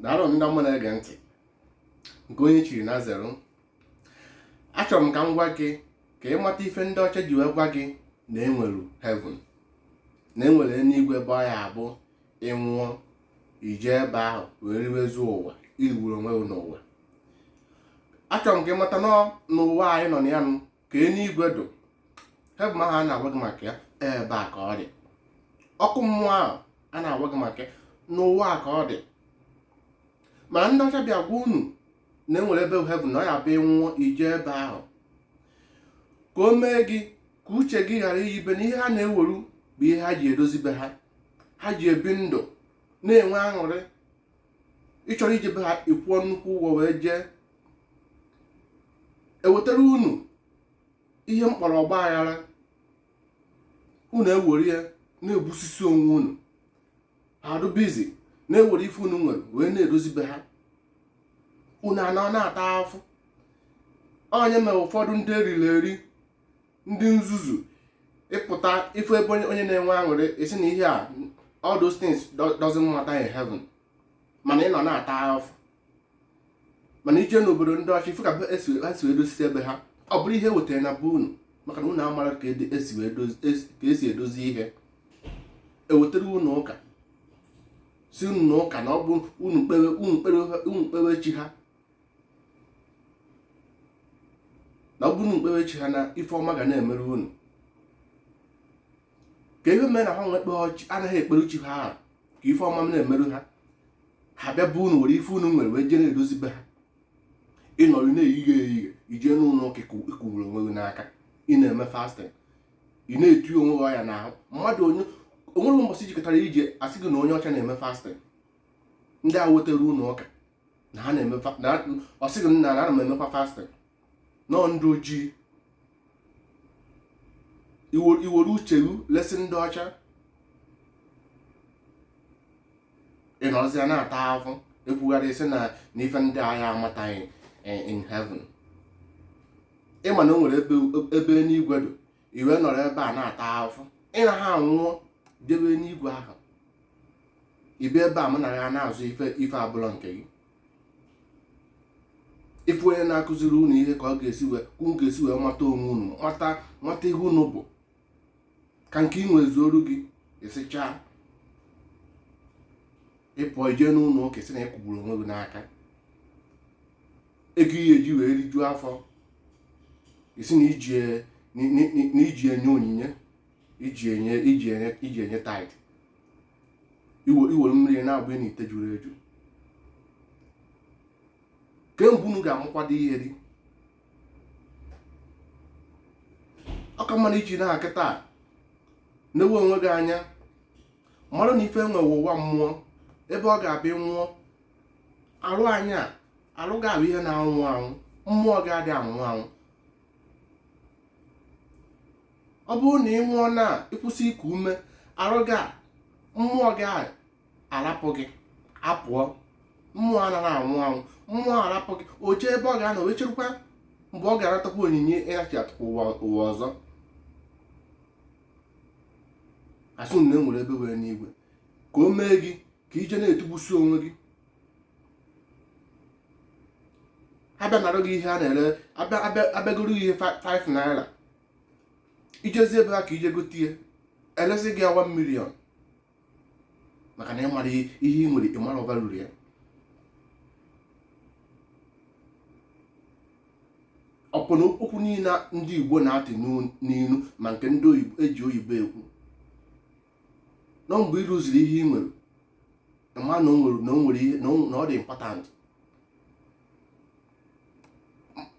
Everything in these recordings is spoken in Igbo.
daalụ ndị ọma na-ege ntị nke onye chiri nya zeru achọrọ m ka m gwa gị ka ị mata ife ndị ọcha ji wee gwa gị na enwere heaven na enwere eluigwe ebe ọ ya abụ ị nwụọ i jee ebe ahụ wee riwezuo ụwa i rigburu onwe gị n'ụwa achọrọ m ka ị mata na ọ n'ụwa anyị nọ na ya nụ ka eluigwe dụ heaven ahụ a na-agwa gị maka ya ebe a ka ọ dị ọkụ mmụọ ahụ a na-agwa gị maka ya n'ụwa a ka ọ dị ma ndị ọcha bịa gwa unu na enwere ebe heaven na ọ ya abụ ị nwụọ i jee ebe ahụ ka o mee gị ka uche gị ghara iyibe na ihe ha na-eweru bụ ihe ha ji edozi be ha ha ji ebi ndụ na-enwe aṅụrị ị chọrọ ije be ha ị kwụọ nnukwu ụgwọ wee jee ewetara unu ihe m kpọrọ ọgba aghara unu ewere ya na-egbusisi onwe unu ha adụbizi na-ewere ife unu nwere wee na-edozi be ha unu anọ na-ata afụ ọ nya mere ụfọdụ ndị eriri eri ndị nzuzu ị pụta ị fụ ebe onye na-enwe aṅụrị ị sị na ihe a all those things doesn't matter in heaven mana ị nọ na-ata afụ mana i jee n'obodo ndị ọcha ị fụ ka ha si edozisi be ha ọ bụrụ ihe wetara na be unu maka na unu amara ka esi edozi ihe ewetara unu ụka sị unu na ụka na ọ bụ unu kpewe chi ha na ọ bụ unu kpewe chi ha na ife ọma ga na-emere unu ke ihe mere na ha nwa anaghị ekpere chi ha ka ife ọma na-emeru ha ha bịa be unu were ife unu nwere wee jee na-edozi be ha ị nọrọ na-eyighe eyighe i jee n'ụlọ ụka ị kụgburu onwe gị n'aka ị na-eme fasting ị na-eti onwe gị ọya n'ahụ mmadụ o nwere mbọsị i jekatara ije a sị gị na onye ọcha na-eme fasting ndị a wetara unu ụka na ha na-eme ọ sị gị na ana m emekwa fasting na ọ ndị ojii i were uche gị lesi ndị ọcha ị nọrọzia na-ata afụ ekwugharị isi na ife ndị a ya amataghị in heaven ị ma na o nwere ebe enigwe dụ i wee nọrọ ebe a na-ata afụ ị naha anwụọ jebe enigwe ahụ i bi ebe a mụ na ya na-azọ ife abụlọ nke gị ị fụ onye na-akụziri unu ihe ka unu ga-esi wee mata onwe unu mata ihe unu bụ ka nke i nwe zuoru gị ị sị chaa ị pụọ i jee n'ụlọ ụka ị sị na ị kụgburu onwe gị n'aka ego ị ya eji wee rijuo afọ ị sị na i ji enye onyinye iji enye iji enye iji enye tithe iwere mmiri na-agba na ite juru eju kemgbe unu ga-amụkwado ihe dị ọ ka mma na iji na kịtaa na-ewe onwe gị anya mmadụ na ife enwe ụwa mmụọ ebe ọ ga-abịa nwụọ arụ anyị a arụ gị a bụ ihe na-anwụ anwụ mmụọ gị adị anwụ anwụ ọ bụrụ na ị nwụọ na ịkwụsị iku ume arụ gị a mmụọ gị a arapụ gị apụọ mmụọ anaghị anwụ anwụ mmụọ arapụ gị o jee ebe ọ ga-anọ wee cherukwa mgbe ọ ga-anatakwa onyinye ịnachighatakwa ụwa ọzọ asị na enwere ebe enwere enuigwe ka o mee gị ka ije na-etugbusi onwe gị abịa nara gị ihe a na-ere abịa goro gị ihe 5 naira ijezi ebe ha ka ije gote ihe elesi gị ya 1 million maka na ịmara ihe ị nwere ịmara ọ bara uru ya ọ bụ na okwu niile ndị Igbo na-atụ n'ilu ma nke ndị eji oyibo ekwu na ọ mgbe ị lose-iri ihe ị nwere ma na o nwere ihe na ọ dị important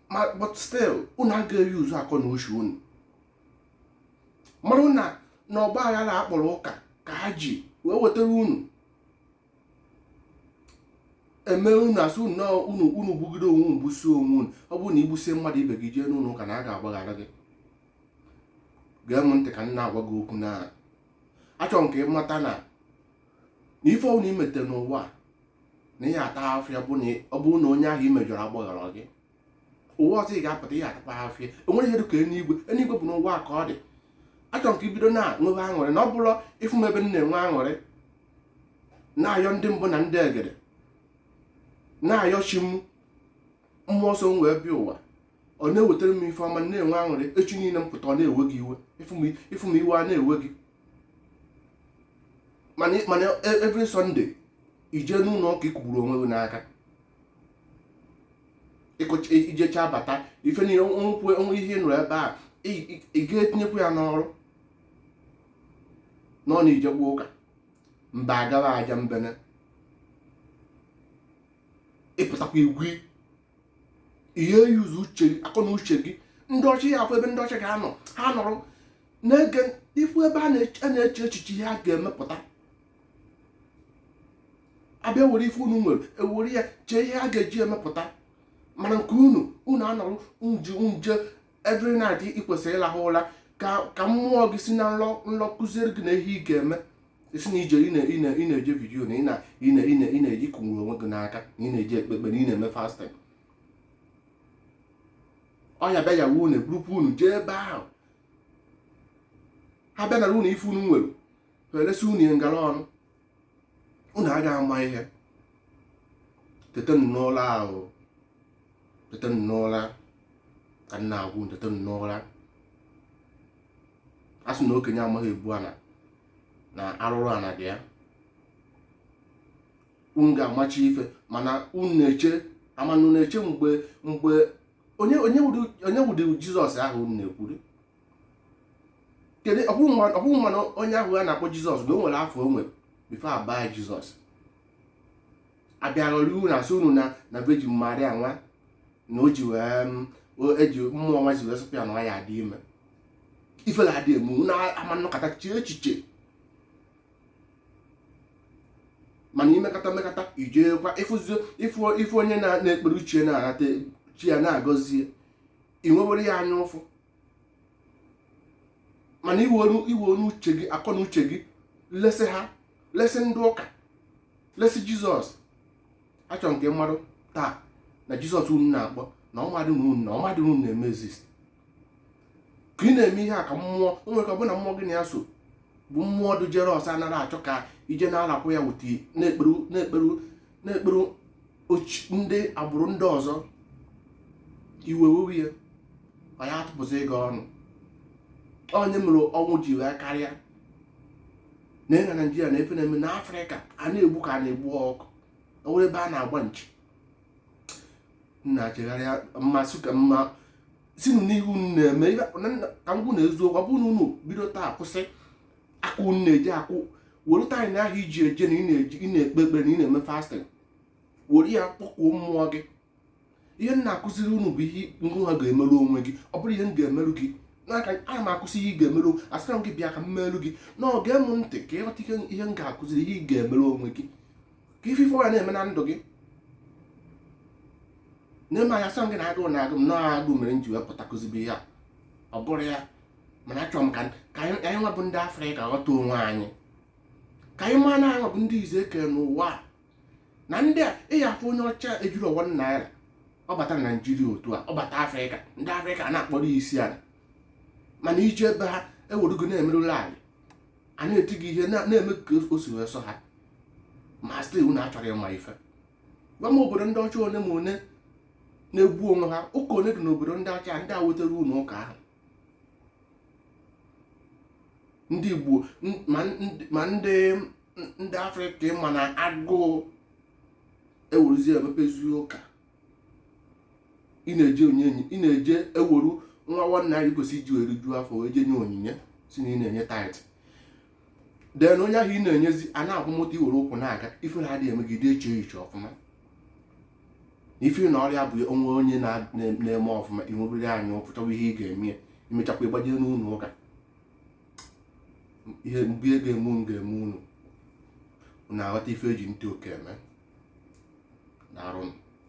ma but still unu agaghị use akọ na uche unu mara na na ọgba aghara akpọrọ ụka ka ha ji wee wetara unu eme unu asị unu na unu unu gbugide onwe unu gbusie onwe unu ọ bụrụ na igbusie mmadụ ibe gị jee n'ụlọ ụka na a ga-agbaghara gị gee m ntị ka m na-agwa gị okwu na achọrọ m ka ị mata na na ife ọbụla imete n'ụwa a, na ị ya-ata afụfụ ya bụ na ọ bụrụ na onye ahụ imejọrọ agbaghara gị ụwa ọzọ ị ga-apụta ị ya-atakwa afụfụ ya enwere ihe dịka eluigwe eluigwe bụ n'ụwa ka ọ dị achọrọ m ka ibido na nwebe aṅụrị na ọ bụrụ ịfụ m ebe m na-enwe aṅụrị na-ayọ ndị mbụ na ndị egede na-ayọ chi m mmụọ so m wee bịa ụwa ọ na-ewetara m ife ọma na-enwe aṅụrị echi niile m pụta ọ na-ewe gị iwe ịfụ m iwe a na-ewe gị mana e, every Sunday ije n'ụlọ ụka ikugburu onwe gị n'aka ijecha abata ife niile ekwu onwe ihe ị nụrụ ebe a ị ga-etinyekwu ya n'ọrụ nọ na ijekwa ụka mgbe a ga-agụ ajambene ịpụtakwa ịgụ ị ya use uche akọ na uche gị ndị ọcha ya akwa ebe ndị ọcha ga-anọ ha nọrọ na-ege ifu ebe a na-eche echiche ihe a ga-emepụta abịa were ife unu nwere ewere ya chee ihe a ga-eji emepụta mana nke unu unu anọrụ nji nje every night ị kwesịrị ịlahụ ụra ka ka mmụọ gị si na nlọ nlọ kụziere gị na ihe ị ga-eme ị sị na ije ị na- ị na- ị na-eje vigil na ị na- ị na- ị na- ị na-eji kụnwuru onwe gị n'aka na ị na-eje ekpe ekpere na ị na-eme fasting ọ ya bịa ya wuo na burukwu unu jee ebe ahụ ha bịa nara unu ife unu nwere ha eresi unu ya ngala ọnụ unu agaghị ama ihe tetenụ n'ụra ahụ tetenụ n'ụra ka m na-agwa unu tetenụ n'ụra a sị na okenye amaghị ebu ana na arụrụ ana ji ya unu ga-amachi ife mana unu na-eche mana unu na-eche mgbe mgbe onye wụdị jizọs ahụ unu na-ekwuru kedu ọ bụ gị ma na onye ahụ a na-akpọ jizọs na o nwere afa o nwere before a baa jizọs abịa ghọrọ unu na-asị unu na na virgin maria nwa na o ji wee mm, eji mmụọ nwa ji wee sọpụ ya na ya adị ime ifela adị eme unu ama anọkata chee echiche mana i mekata mekata i jekwa ị fụ onye na-ekpere uche na-anata chi ya na-agọzie ị nwewere ya anya ụfụ mana i were uche gị akọ na uche gị lesi ha lesi ndị ụka lesi jizọs achọrọ m ka ị madụ taa na jizọs unu na-akpọ na ọ madị na unu na ọ madị na unu na-eme exist ka ị na-eme ihe a ka mmụọ o nwere ka ọ bụ na mmụọ gị na ya so bụ mmụọ dị jealous ọ naghị achọ ka i je na-alakwa ya wute na-ekpere na-ekpere na-ekpere ndị agbụrụ ndị ọzọ iwe wewe ya ọ ya atụpụsị gị ọnụ ọ ya mere ọnwụ ji wee karịa na ị na naijiria na ife na-eme na afrịka a na-egbu ka a na-egbu ọkụkọ o nwere ebe a na-agba nchi na-achegharịa mmasị ka mma sinụ n'ihe unu na-eme ka m gwa unu eziokwu ọ bụrụ na unu bido taa kwụsị aka unu na-eje akụ were time ahụ i ji eje na ị na-ekpe ekpere na ị na-eme fasting were ya kpọkuo mmụọ gị ihe m na-akụziri unu bụ ihe ngị nwa ga-emerụ onwe gị ọ bụrọ ihe m ga-emerụ gị maka ana m akụzi ihe ị ga-emerụ asịrọ m gị bịa ka m merụ gị na-ege m ntị ka ị ghọta ihe m ga-akụziri ihe ị ga-emerụ onwe gị ka ife ife ya na-eme na ndụ gị na-eme anya sọ gị na agụụ na-agụ m na agụụ mere m ji wee pụta kụzibe ihe a ọ bụrọ ya mana achọrọ m ka anyị nwa bụ ndị afrịka ghọta onwe anyị ka anyị maa na anyị bụ ndị izi e kere n'ụwa na ndị a ị ya-afụ onye ọcha ejirọ one naira ọ bata na Naịjirịa otu a ọ bata Afrịka ndị Afrịka ana-akpọrọ isi ala mana i je be ha ewerugo na-emerụla anyị a na-eti gị ihe na-eme ka o si wee sọ ha ma still unu achọrọ ịma ife gwa m obodo ndị ọcha one ma one na-egbu onwe ha ụka one dị n'obodo ndị ọcha ndị wetara unu ụka ahụ ndị Igbo ma ndị ndị Afrịka ịma na agụụ eweruzi emebezi ụka ị na-eje ị na-eje eweru nwa one naira i kwesịrị iji wee riju afọ wee je nye onyinye sị na ị na-enye tithe then onye ahụ ị na-enyezi ana-akwọ moto i were ụkwụ na-aga ifere adịghị eme gị ị dị eche echiche ọfụma ifi na ọ rị abụ o nwee onye na-eme ọfụma i nwebiri anya ụfụ chọwa ihe ị ga-eme ya i mechakwa ị gbaje n'ụlọ ụka mgbe ihe ga-eme unu ga-eme unu na-aghọta ife e ji ntị oke eme n'arụ